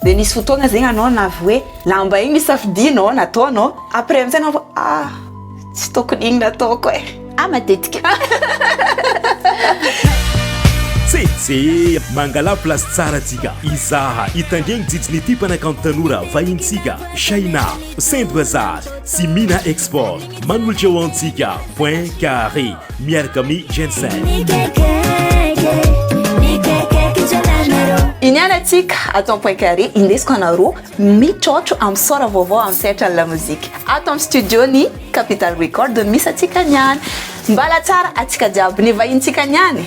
Dia nisy fotoana zegny anao navy hoe lamba igny safidianao nataonao après amizay anao vao ah tsy tokony igny nataoko eh ah matetika Tsetse, mangala place tsara tsika, izaha itangegny jijiny ity mpanakanto tanora vahintsika, Shaina, Sendra zary, sy Mina Export. Manolotra ho antsika point carré miaraka amin'ny Jensen. Iniana antsika ato amin'ny point carré indesiko anareo mitrôtro amin'ny sôra vaovao amin'ny sehatran'ny lamozika. Ato amin'ny studio-n'ny Capital Record no misy antsika niany. Mbala tsara antsika jiaby ny vahinintsika niany.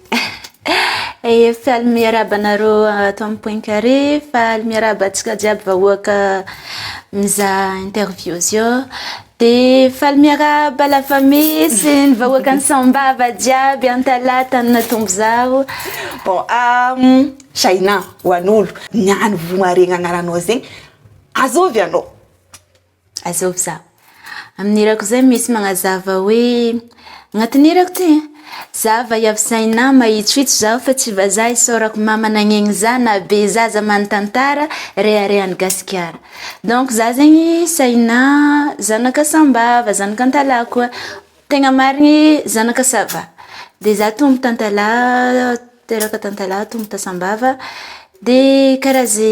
Faly miarahaba anareo ato amin'ny pointcarré, faly miarahaba antsika jiaby vahoaka mizaha interview zio, dia faly miarahaba la famille sy ny vahoakan'i Sambava jiaby Antalaha Antaninatombo izaho. Bon, Shahinah, ho an'olo ny any Vohimaharegny agnaranao zegny, azôvy anao? Azovy za. Amin'ny hirako izay misy magnazava hoe agnatin'ny hirako ty ein! Za vaiavy Zaina mahitsokitso zaho fa tsy vazaha isaorako mama nagnegny za naha be zaza man tantara reharehan'i Gasikara donc za zegny Saina zanaka sambava zanaka antalaha koa tegna marigny zanaka sava de za tombo tantalaha teraka tantalaha tombo ta sambava de karaha ze.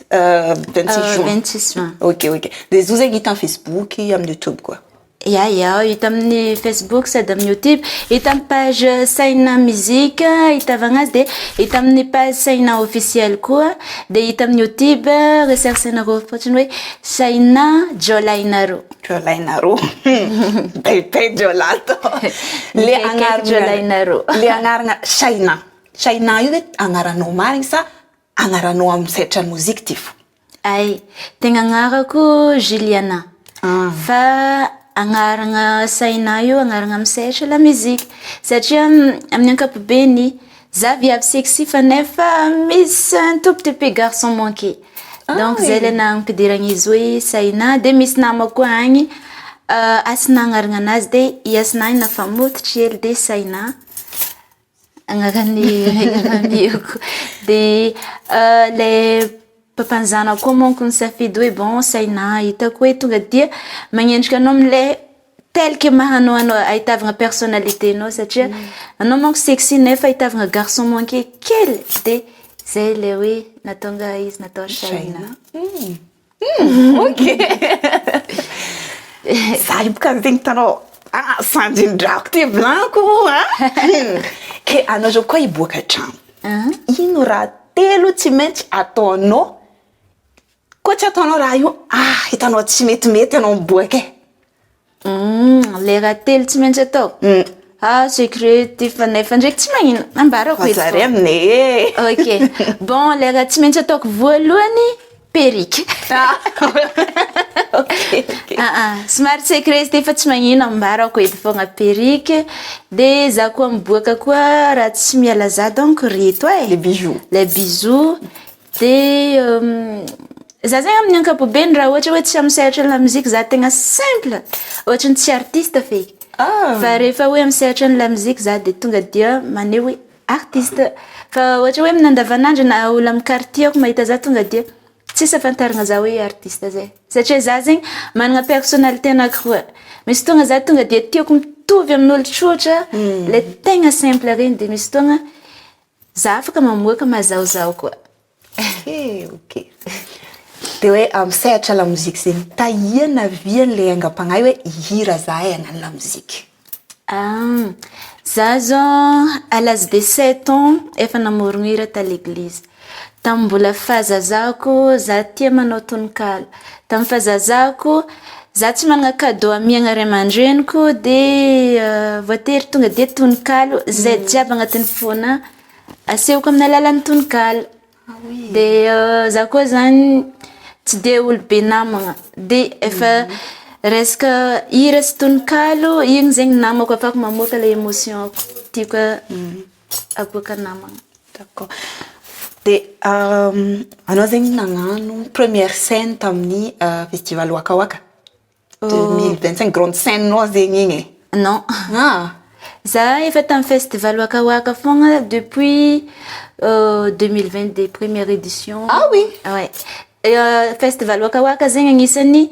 Euh, 26 euh, juin. 26 juin. Ok, ok. Dia zo zegny hita Facebook amin'ny YouTube koa. Ya, ya, hita amin'ny Facebook sady amin'ny YouTube. Hita amin'ny page Saina Musique hitavagna azy dia hita amin'ny page Saina officiel koa. Dia hita amin'ny YouTube recherche anareo fotsiny hoe Saina Jolainaro. Jolainaro. Bebe Jolato. Le agnarana Jolainaro. Le agnarana Saina. Saina io hoe agnaranao marigny sa Agnaranao am setra musique ty fo. Ay, tegna agnarako Juliana, fa agnarana saina io agnarana am setra la musique, satria amin'ny ankapobeny za viavy sexy fa nefa misy un tout petit peu garçon manqué, donc zay le naha ampidiragna izy hoe saina, de misy namako koa agny Hasina agnarana anazy de i Hasina io nafa mototry hely de saina. Agnaran'ny ray aman-dreniko. Dia ilay papan'ny zanako koa manko nisafidy hoe bon saina hitako hoe tonga dia magnendrika anao amin'ilay tel que maha anao anao ahitavana personnalité anao satria anao manko sexy nefa ahitavana garçon manqué kely dia izay ilay hoe nahatonga izy natao saina. Hmm, ok. Za ipoka ny tegny tanao. Ah, sanjin-drako ty blanco a. Hmm. Ke anao zao koa hiboaka trano. Ah. Ino raha telo tsy maintsy ataonao koa tsy ataonao raha io ah hitanao tsy metimety ianao miboaka e. Humm le rahatelo tsy maintsy atao ah secret ty fanahy fa ndraiky tsy magnino ambarako eto Fazare amine ok bon le raha tsy maintsy ataoko voalohany perruque aa somary secret izy ty fa tsy magnino ambarako eto fogna perruque de za koa miboaka koa raha tsy miala za donc reto e les bijoux les bijoux Dia za zegny amin'ny ankapobeny raha ohatra hoe tsy amin'ny sehatry ny lamoziky za tegna simple ohatra ny tsy artiste feky fa rehefa hoe amin'ny sehatry ny lamoziky za dia tonga dia maneho hoe artiste fa ohatra hoe amin'ny andavan'andro na olo amin'ny quartier ko mahita za tonga dia tsisy ahafantarana za hoe artiste zay satria za zegny manana personnalité anankiroa misy fotoagna za tonga dia tiako mitovy amin'olo tsotra le tegna simple regny de misy fotoagna Za afaka mamoaka mazahozaho koa. Okay, okay. Dia hoe amin'ny sehatra lamozika izay nitahiana vy an'ilay aingam-panahy hoe hihira izahay hagnano lamozika? Za zao à l'âge de sept ans efa namorogno hira taleglizy. Tamin'ny mbola fahazazako za tia manao tononkalo. Tamin'ny fazazako, za tsy manana cadeau amiagna ray aman-dreniko dia voatery tonga dia tononkalo zay jiaby agnatin'ny fona asehoko amin'ny alalan'ny tononkalo. Dia za koa zany tsy de olo be namagna dia efa resaka hira sy tononkalo igny zegny namako afahako mamoaka le emotion-ko tiako. Agoaka namana. D'accord. Dia anao zegny nagnano première scène tamin'ny festival Waka Waka deux mille vingt cinq, grande scène nao zegny igny e. Non. Ah! Za efa tamin'ny festival Waka Waka foagna depuis deux mille vingt deux première édition. Ah oui? Ouais. Festival Waka Waka zegny agnisan'ny.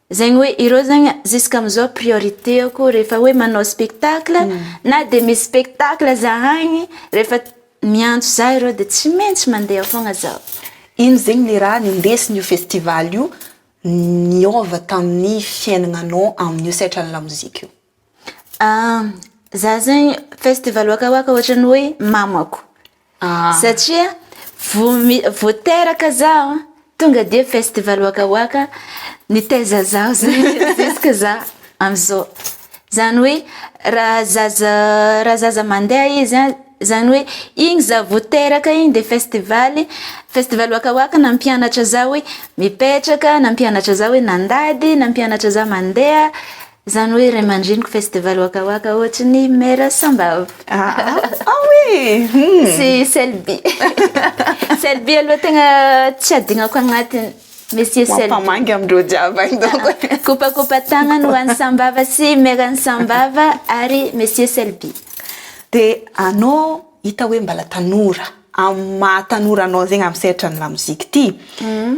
Zegny hoe ireo zegny zisk'amizao priorité-ko rehefa hoe manao spectacle na de misy spectacle zahagny rehefa miantso zah ireo de tsy maintsy mandeha fogna zaho. Ino zegny le raha nendesin'io festival io niôva tamin'ny fiainagnanao amin'io sehatran'ny lamozika io? Za zegny festival waka waka ohatran'ny hoe mamako satria vao mi- vao teraka zaho a tonga de festival waka waka nitaiza zaho zay juska za am'zao zany hoe raha zaza raha zaza mandeha izy a zany hoe igny za vao teraka igny de festivaly festival waka waka nampianatra za hoe mipetraka nampianatra za hoe nandady nampianatra za mandeha. Izany hoe ray aman-dreniko festival Waka Waka ohatry ny Mère Sambava. Ah, ah, ah oui hmm. Sy Selby. Selby aloha tegna tsy adignako agnatiny. Monsieur Selby. Mampamangy amindreo jiaby any donc. Kopakopa tagnany ho an'i Sambava sy Mère Sambava ary Monsieur Selby. Dia anao hita hoe mbala tanora amin'ny maha tanora anao zegny amin'ny sehatra ny lamozika ity. Hmm.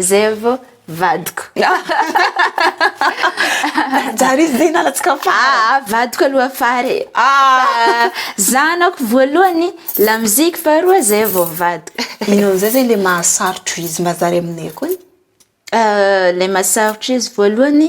Zevo vadiko. Jari izy zay nalatsika fara. Ah, vadiko aloha fara e. Ah. Zanako voalohany la musique faharoa zay vao vadiko. Ino amizay zay le mahasarotro izy mba zary aminay koa? Euh, le mahasarotro izy voalohany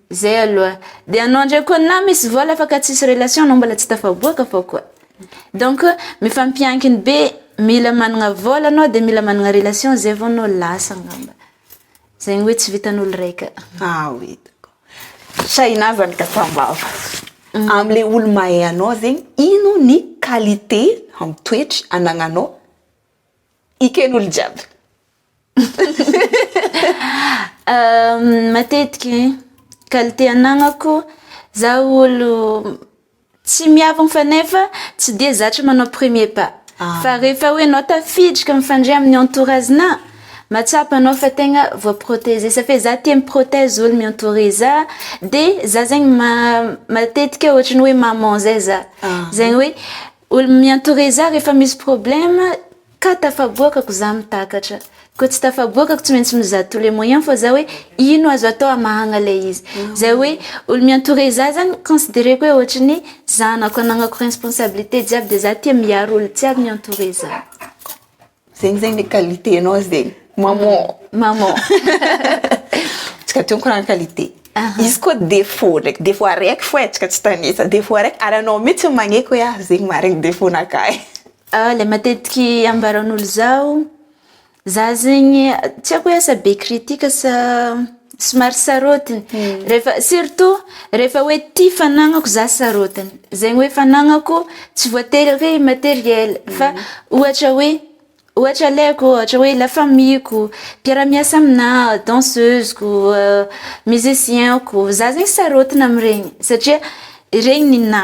Zay aloha, de anao ndray koa na misy vola fa ka tsisy relation anao mbola tsy tafaboaka fa koa, donc mifampiankiny be, mila managna vola anao de mila managna relation zay vao anao lasa ngamba, zay ny hoe tsy vitan'olo raika. Ah oui d'accord, Shahinah zany ka tambava, amle olo mahay anao zegny ino ny qualité am toetry anagnanao eken'olo jiaby? Matetiky e, qualité anagnako zah olo tsy miavogno fa nefa tsy de zatra manao premier pas fa rehefa hoe anao tafiditra mifandre amin'ny entourage-na mahatsapa anao fa tegna voaproteger satria zah tia mi-protège olo mi-entourer zah de zah zegny ma- matetika ohatran'ny hoe maman zay zah zegny hoe olo mi-entourer zah rehefa misy problème. Ka tafaboakako za mitakatra. Koa tsy tafaboakako tsy maintsy mizaha tous les moyens fa za hoe ino azo atao hamahagna le izy. Zay hoe olo mi-entoure za zany considereko hoe ohatry ny zanako anagnako responsabilité jiaby de za tia miaro olo jiaby mi-entoure za. Zegny zegny le qualité nao zegny maman. Maman. Tsika teo mikoragna qualité. Izy koa défaut ndraiky défaut araiky fô e tsika tsy tanisa. Défaut araiky ary anao mitsy magneky hoe ah zegny maharegny défaut-nakahy. Ilay matetiky ambaran'olo izao, za zegny tsy haiko hoe asa be critique sa somary sarotiny. Rehefa surtout rehefa hoe ty fanagnako za sarotiny. Zegny hoe fanagnako tsy voatery hoe materiel fa ohatra hoe ohatra alaiko ohatra hoe la famille-ko, mpiara-miasa aminà, danseuse-ko, musicien-ko. Za zegny sarotiny am'regny satria regny ninà.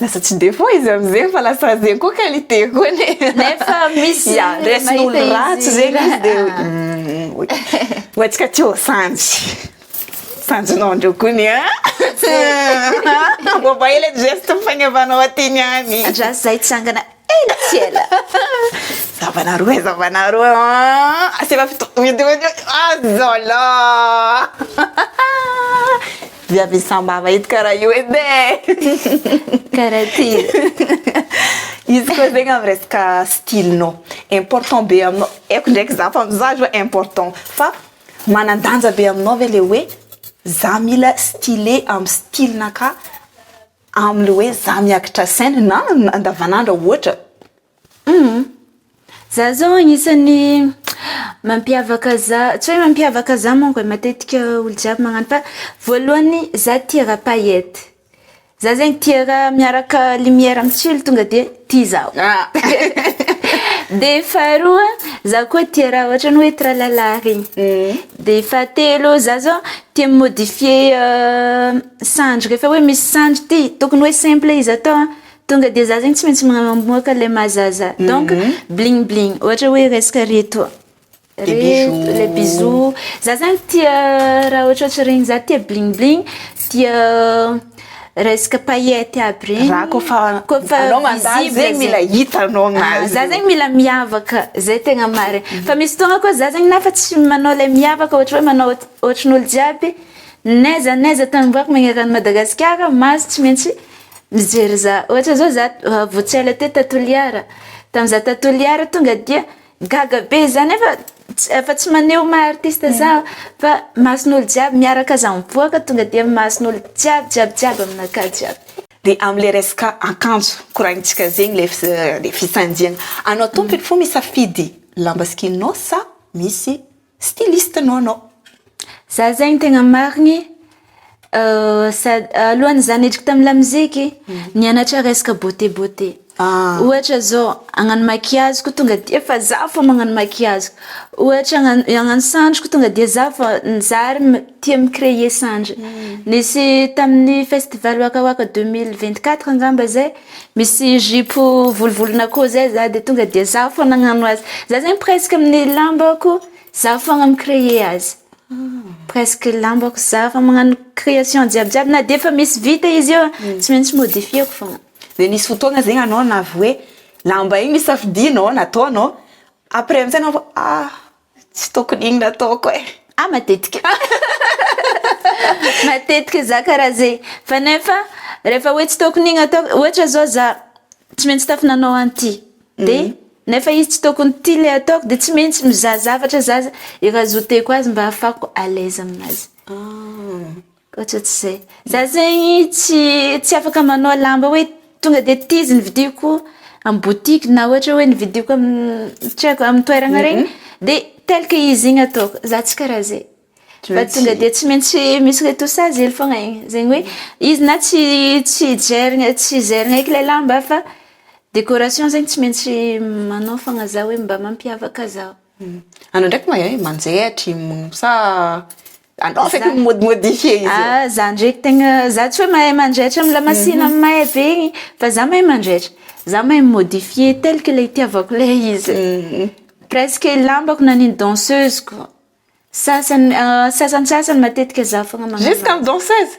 Lasa tsy dia fohy izy amin'izegny fa lasa zegny koa qualité koa anie. Nefa misy Ya, mahita resin'olo izy. ratsy zegny izy dia hoe, Ah. "Hum, oui. Ho antsika aty ô Sanjy. Sanjinao ndreo koa ny an. Mba ela ny geste mifagnevanao aty niany. Andraso zahay hitsangana. Ela tsy ela. Zavana roa e, zavana roa an. Aseva fito. Ah zala. Viavy sambava ito karaha io edy e. Karaha ty. Izy koa zegny amin'ny resaka style-nao. Important be aminao. Haiko ndraiky za fa mizaha zao important. Fa manan-danja be aminao ve le hoe za mila style amin'ny style-nakà. Amle hoe za miakitra scène na andavanandro ohatra humm. Za zao agnisan'ny mampiavaka za, tsy hoe mampiavaka za manko e, matetika olo jiaby magnano fa voalohany za tia raha paillettes, za zegny tia raha miaraka lumière am tsilo tonga de tia zaho de faharoa za koa tia raha ohatrany hoe tralalà regny de fahatelo za zao tia mi modifier Sandry, rehefa hoe misy sandry ty tokony hoe simple izy atao an! Tonga dia za zegny tsy maintsy mamoaka le maha zaza donc bling bling ohatra hoe resaka reto le bijoux za zany tia raha ohatrohatry regny za tia bling bling tia resaka paillettes aby regny za kôfa kôfa anao mandalo zegny mila hita anao aminazy za zegny mila miavaka zay tegna marigny fa misy fotoagna koa za zegny na efa tsy manao le miavaka ohatra hoe manao ohatrin'olo jiaby N'aiza n'aiza tany mboary magneran'i Madagasikara, Maso tsy maintsy mijery za. Ohatra zao za vao tsy ela teo ta Toliara, tam za ta Toliara tonga dia gaga be za nefa efa tsy maneho maha artiste za fa mason'olo jiaby miaraka za mipoaka tonga dia mason'olo jiaby jiaby jiaby aminakahy jiaby. De amle resaka akanjo koragnitsika zegny le le fisanjiagna anao tompony fô misafidy lamba sy kinos sa misy Styliste no anao. Za zegny tegna marigny sady alohan'izany niditra tamin'ny lamoziky nianatra resaka beauté beauté ohatra zao hagnano maquillage koa tonga de efa za fô magnano maquillage ohatra hagnano hagnano sandry koa tonga de za fô za ary tia mi créer sandry nisy tamin'ny festival waka waka deux mille vingt quatre angamba zay Misy zipo volovolona koa zay za de tonga de za fo nagnano azy za zegny presque amin'ny lambako za fogna mi cree azy presque lambako za fogna magnano creation jiaby jiaby na de efa misy vita izy io tsy maintsy modifieko fogna de nisy fotoagna zegny anao navy hoe lamba igny safidianao nataonao après amizay anao ah. Tsy tokony iny nataoko e. Ah matetika. Matetika za karaha zay. Fa nefa rehefa hoe tsy tokony iny ataoko, ohatra zao za tsy maintsy tafy nanao an'ity, de nefa izy tsy tokony ity le ataoko de tsy maintsy mizaha zavatra za i raha zouteko azy mba ahafahako à l'aise aminazy. Ohatratr'izay. Za zegny tsy tsy afaka manao lamba hoe tonga de ty izy novidiko am boutique na ohatra hoe novidiko am tsy haiko am toeragna regny de tel que izy igny ataoko, za tsy karaha zay fa tonga de tsy maintsy misy retoussage hely fogna igny, zegny hoe izy na tsy tsy jerigna tsy jerigna eky le lamba fa décoration zegny tsy maintsy manao fogna za hoe mba mampiavaka zaho. Anao ndraiky mahay manjaitry sa Anao feky mi modimodifie izy eo. Ah, za ndreky tegna, za tsy hoe mahay manjaitra am lamasina may be igny, fa za mahay manjaitra, za mahay mi modifier tel que le itiavako le izy, presque lambako na ny danseuse ko, sasany, sasantsasany matetika za fogna magnano azy. Jusqu'am danseuse?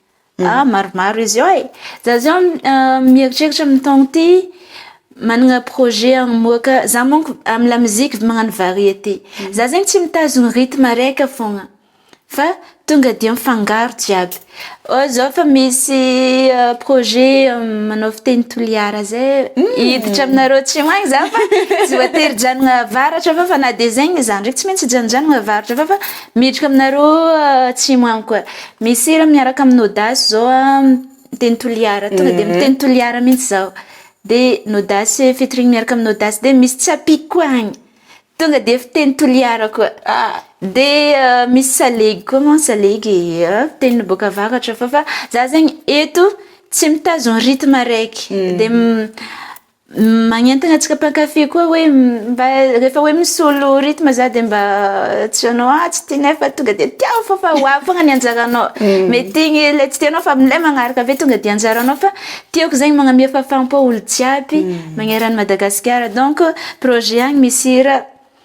Ah, maromaro izy eo e! Za zao mieritreritra amin'ny taona ity manana projet hamoaka, za manko amin'ny lamoziky magnano variété, za zegny tsy mitazona rythme araiky fogna fa tonga dia mifangaro jiaby, ohatra zao efa misy projet manao fiteny toliara zay, hiditra aminareo atsimo agny za fa tsy voatery hijanona avaratra fa na dia zegny aza ndraiky tsy maintsy hijanonjanona avaratra fa miditra aminareo atsimo agny koa. Misy hira miaraka amin'ny Audace zao miteny Toliara, tonga dia miteny Toliara mihitsy zaho. Dia ny Audace featuring miaraka amin'ny Audace dia misy Tsapiko koa agny, tonga dia fiteny Toliara koa. Dia misy Salegy koa moa, Salegy fiteny boaka avaratra fô fa za zegny eto tsy mitazogno rythme araiky dia Magnentana antsika mpankafy koa hoe mba rehefa hoe misolo rythme za de mba tsy anao ah tsy ty nefa tonga de tiao fô fa ho avy fogna ny anjaranao mety igny le tsy tianao fa amle magnaraka aveo tonga de anjaranao fa tiako zegny magname fahafaham-po olo jiaby magneran'i Madagasikara donc projet agny misy hira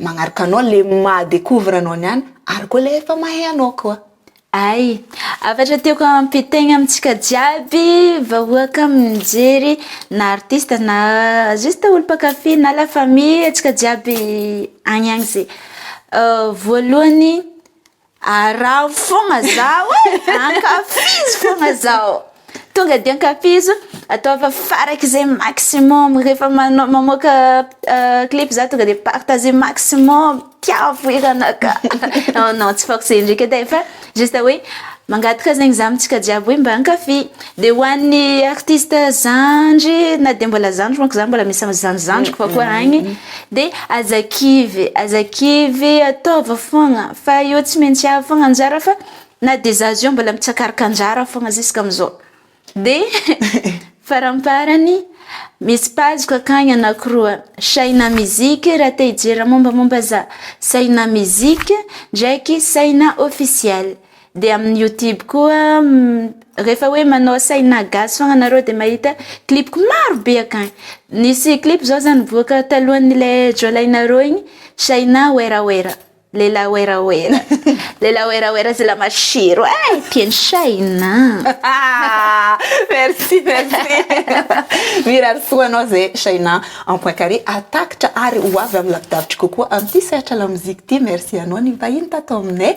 Magnaraka anao le maha decouvre anao ny an ary koa le efa mahay anao koa. Ay! Hafatra tiako hampitaigna amintsika jiaby vahoaka mijery na artiste na juste olo mpankafy na la famille antsika jiaby agny agny zay. Voalohany, Araho fogna zaho e! Ankafizo fogna zaho! Tonga dia ankafizo, ataovy farak'izay maximum, rehefa manao mamoaka clip za tonga dia partager maximum, tiavo hiranakà! non non tsy forcer ndreky edy e, fa juste hoe mangataka zegny za amintsika jiaby hoe mba ankafy. Dia ho an'ny artiste zandry na dia mbola zandry manko za mbola misy amin'ny zandry zandriko fa koa agny dia aza kivy aza kivy ataovy fogna fa io tsy maintsy avy fogna anjara fa na dia za zao mbola mitsakaroka anjara fogna ziska amizao dia faramparany misy page ko akagny anakiroa Shaina musique raha te hijery mombamomba za Shaina musique ndraiky Shaina officielle Dia amin'ny youtube koa rehefa hoe manao saina gasy foagna anareo dia mahita clip-ko maro be akagny. Nisy clip zao zany nivoaka talohan'ilay jiolahinareo igny, Shaina werawera, lehilahy werawera, lehilahy werawera zila masiro eh! Tian'i Shaina an! Merci, merci. Mirary soa anao zay Shaina Ampoinkare hahatakatra ary ho avy amin'ny lavidavitra kokoa amin'ity sehatra lamoziky ity. Merci anao nivahiny tato aminay.